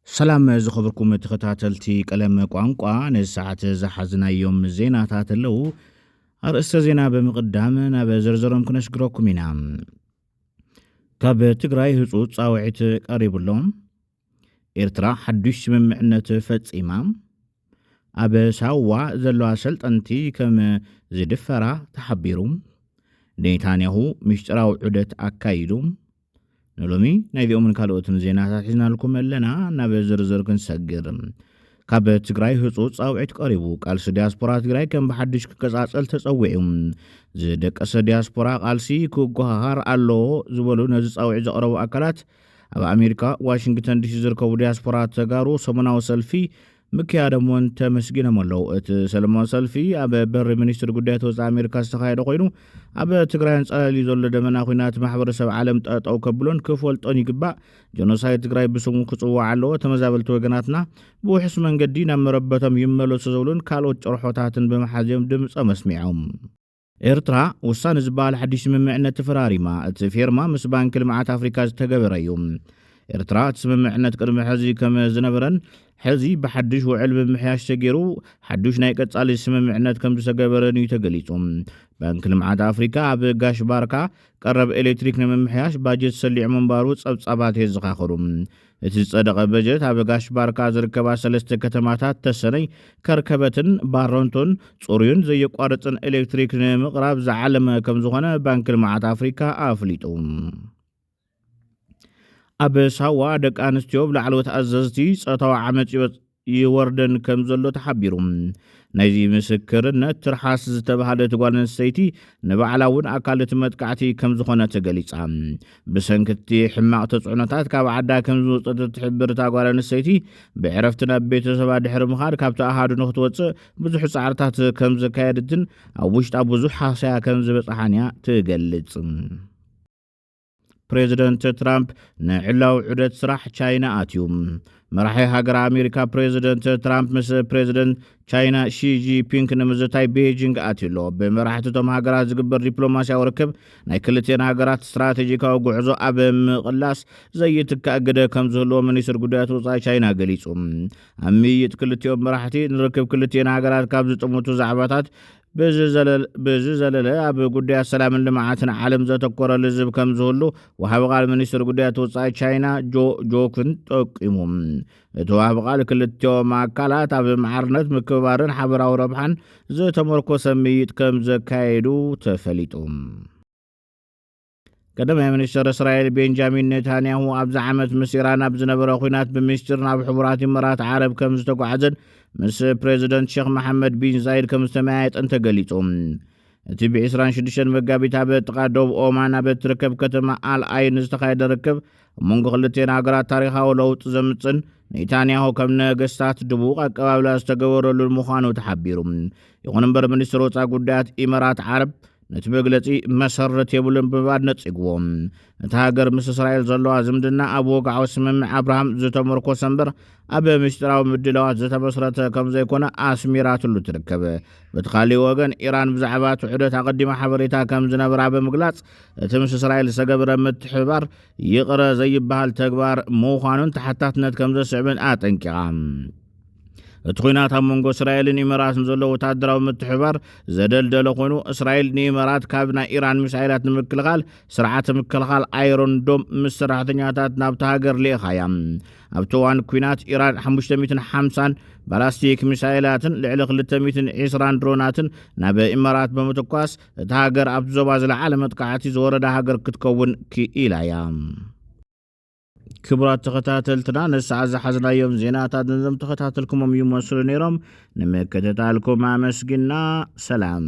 ሰላም ዝኸብርኩም ተኸታተልቲ ቀለም ቋንቋ፣ ነዚ ሰዓት ዝሓዝናዮም ዜናታት ኣለዉ። ኣርእስተ ዜና ብምቕዳም ናብ ዝርዝሮም ክነሽግረኩም ኢና። ካብ ትግራይ ህፁፅ ፃውዒት ቀሪቡሎ። ኤርትራ ሓዱሽ ስምምዕነት ፈፂማ። ኣብ ሳዋ ዘለዋ ሰልጠንቲ ከም ዝድፈራ ተሓቢሩ። ኔታንያሁ ምስጢራዊ ዑደት ኣካይዱ። ንሎሚ ናይዚኦምን ካልኦትን ዜናታት ሒዝናልኩም ኣለና ናብ ዝርዝር ክንሰግር ካብ ትግራይ ህፁፅ ፃውዒት ቀሪቡ ቃልሲ ዲያስፖራ ትግራይ ከም ብሓድሽ ክቀፃፀል ተፀዊዑ ዝደቀሰ ዲያስፖራ ቃልሲ ክጓሃሃር ኣለዎ ዝበሉ ነዚ ፃውዒት ዘቕረቡ ኣካላት ኣብ ኣሜሪካ ዋሽንግተን ዲሲ ዝርከቡ ዲያስፖራ ተጋሩ ሰሙናዊ ሰልፊ ምክያዶም እውን ተመስጊኖም ኣለው። እቲ ሰለማዊ ሰልፊ ኣብ በሪ ሚኒስትሪ ጉዳያት ወፃኢ ኣሜሪካ ዝተኻየደ ኮይኑ ኣብ ትግራይ ኣንፃላልዩ ዘሎ ደመና ኩናት ማሕበረሰብ ዓለም ጠጠው ከብሎን ክፈልጦን ይግባእ። ጀኖሳይድ ትግራይ ብስሙ ክፅዋዕ ኣለዎ። ተመዛበልቲ ወገናትና ብውሕስ መንገዲ ናብ መረበቶም ይመለሱ ዝብሉን ካልኦት ጭርሖታትን ብምሓዝ እዮም ድምፆም ኣስሚዖም። ኤርትራ፣ ውሳነ ዝበሃል ሓድሽ ስምምዕነት ተፈራሪማ። እቲ ፌርማ ምስ ባንኪ ልምዓት ኣፍሪካ ዝተገበረ እዩ። ኤርትራ እቲ ስምምዕነት ቅድሚ ሕዚ ከም ዝነበረን ሕዚ ብሓድሽ ውዕል ምምሕያሽ ተገይሩ ሓዱሽ ናይ ቀጻሊ ስምምዕነት ከም ዝተገበረን እዩ ተገሊጹ። ባንኪ ልምዓት ኣፍሪካ ኣብ ጋሽ ባርካ ቀረብ ኤሌክትሪክ ንምምሕያሽ ባጀት ሰሊዑ ምንባሩ ጸብጻባት የዘኻኽሩ። እቲ ዝጸደቐ በጀት ኣብ ጋሽ ባርካ ዝርከባ ሰለስተ ከተማታት ተሰነይ፣ ከርከበትን ባረንቱን ጽሩዩን ዘየቋርጽን ኤሌክትሪክ ንምቕራብ ዝዓለመ ከም ዝኾነ ባንኪ ልምዓት ኣፍሪካ ኣፍሊጡ። ኣብ ሳዋ ደቂ ኣንስትዮ ብላዕለዎት ኣዘዝቲ ጾታዊ ዓመጽ ይወርደን ከምዘሎ ተሓቢሩ። ናይዚ ምስክርነት ትርሓስ ዝተብሃለት ጓል ኣንስተይቲ ንባዕላ እውን ኣካል እቲ መጥቃዕቲ ከምዝኾነ ተገሊጻ። ብሰንኪ እቲ ሕማቕ ተጽዕኖታት ካብ ዓዳ ከምዝወጸት እትሕብር እታ ጓል ኣንስተይቲ ብዕረፍቲ ናብ ቤተሰባ ድሕሪ ምኻድ ካብቲ ኣሃዱ ንክትወጽእ ብዙሕ ጻዕርታት ከምዘካየድትን ኣብ ውሽጣ ብዙሕ ሃሰያ ከምዝበጽሓን እያ ትገልጽ። ፕሬዚደንት ትራምፕ ንዕላዊ ዑደት ስራሕ ቻይና ኣትዩ መራሒ ሃገር ኣሜሪካ ፕሬዚደንት ትራምፕ ምስ ፕሬዚደንት ቻይና ሺጂፒንክ ንምዝታይ ቤጂንግ ኣትዩ ኣሎ ብመራሕትቶም ሃገራት ዝግበር ዲፕሎማስያዊ ርክብ ናይ ክልትን ሃገራት ስትራቴጂካዊ ጉዕዞ ኣብ ምቕላስ ዘይትካእ ግደ ከም ዝህልዎ ሚኒስትር ጉዳያት ወፃኢ ቻይና ገሊፁ ኣብ ምይይጥ ክልቲኦም መራሕቲ ንርክብ ክልትን ሃገራት ካብ ዝጥምቱ ዛዕባታት ብዚ ዘለለ ኣብ ጉዳያት ሰላምን ልምዓትን ዓለም ዘተኮረ ልዝብ ከም ዝህሉ ወሃቢ ቃል ሚኒስትር ጉዳያት ወፃኢ ቻይና ጆ ጆክን ጠቂሙ እቲ ወሃቢ ቃል ክልቲኦም ኣካላት ኣብ ማዕርነት ምክብባርን ሓበራዊ ረብሓን ዝተመርኮሰ ምይጥ ከም ዘካየዱ ተፈሊጡ ቀዳማይ ሚኒስትር እስራኤል ቤንጃሚን ኔታንያሁ ኣብዚ ዓመት ምስ ኢራን ኣብ ዝነበረ ኩናት ብምስጢር ናብ ሕቡራት ኢመራት ዓረብ ከም ዝተጓዓዘን ምስ ፕሬዚደንት ሼክ መሓመድ ቢን ዛይድ ከም ዝተመያየጠን ተገሊጹ። እቲ ብ26 መጋቢት ኣብ ጥቓ ዶብ ኦማን ኣብ እትርከብ ከተማ ኣልኣይን ዝተኻየደ ርክብ ኣብ መንጎ ክልቴን ሃገራት ታሪኻዊ ለውጢ ዘምጽን ኔታንያሁ ከም ነገስታት ድቡቕ ኣቀባብላ ዝተገበረሉን ምዃኑ ተሓቢሩ። ይኹን እምበር ሚኒስትር ወፃኢ ጉዳያት ኢመራት ዓረብ ነቲ መግለጺ መሰረት የብሉን ብምባል ነጺግዎ። እታ ሃገር ምስ እስራኤል ዘለዋ ዝምድና ኣብ ወግዓዊ ስምምዕ ኣብርሃም ዝተመርኮሰ እምበር ኣብ ምስጢራዊ ምድላዋት ዝተመስረተ ከም ዘይኮነ ኣስሚራትሉ ትርከብ። በቲ ካልእ ወገን ኢራን ብዛዕባ እቲ ዑደት ኣቐዲማ ሓበሬታ ከም ዝነበራ ብምግላጽ እቲ ምስ እስራኤል ዝተገብረ ምትሕብባር ይቕረ ዘይበሃል ተግባር ምዃኑን ተሓታትነት ከም ዘስዕብን ኣጠንቂቓ። እቲ ኩናት ኣብ መንጎ እስራኤልን ኢመራትን ዘሎ ወታደራዊ ምትሕባር ዘደልደለ ኮይኑ እስራኤል ንኢመራት ካብ ናይ ኢራን ሚሳይላት ንምክልኻል ስርዓተ ምክልኻል ኣይሮን ዶም ምስ ሰራሕተኛታት ናብቲ ሃገር ልኢኻ እያ ኣብቲ እዋን ኩናት ኢራን 550 ባላስቲክ ሚሳይላትን ልዕሊ 220 ድሮናትን ናብ ኢመራት ብምትኳስ እቲ ሃገር ኣብቲ ዞባ ዝለዓለ መጥቃዕቲ ዝወረዳ ሃገር ክትከውን ክኢላ እያ ክቡራት ተኸታተልትና ነሰዓ ዝሓዝናዮም ዜናታት ነዞም ተኸታተልኩሞም ይመስሉ ነይሮም ንምክትታልኩም ኣመስግና ሰላም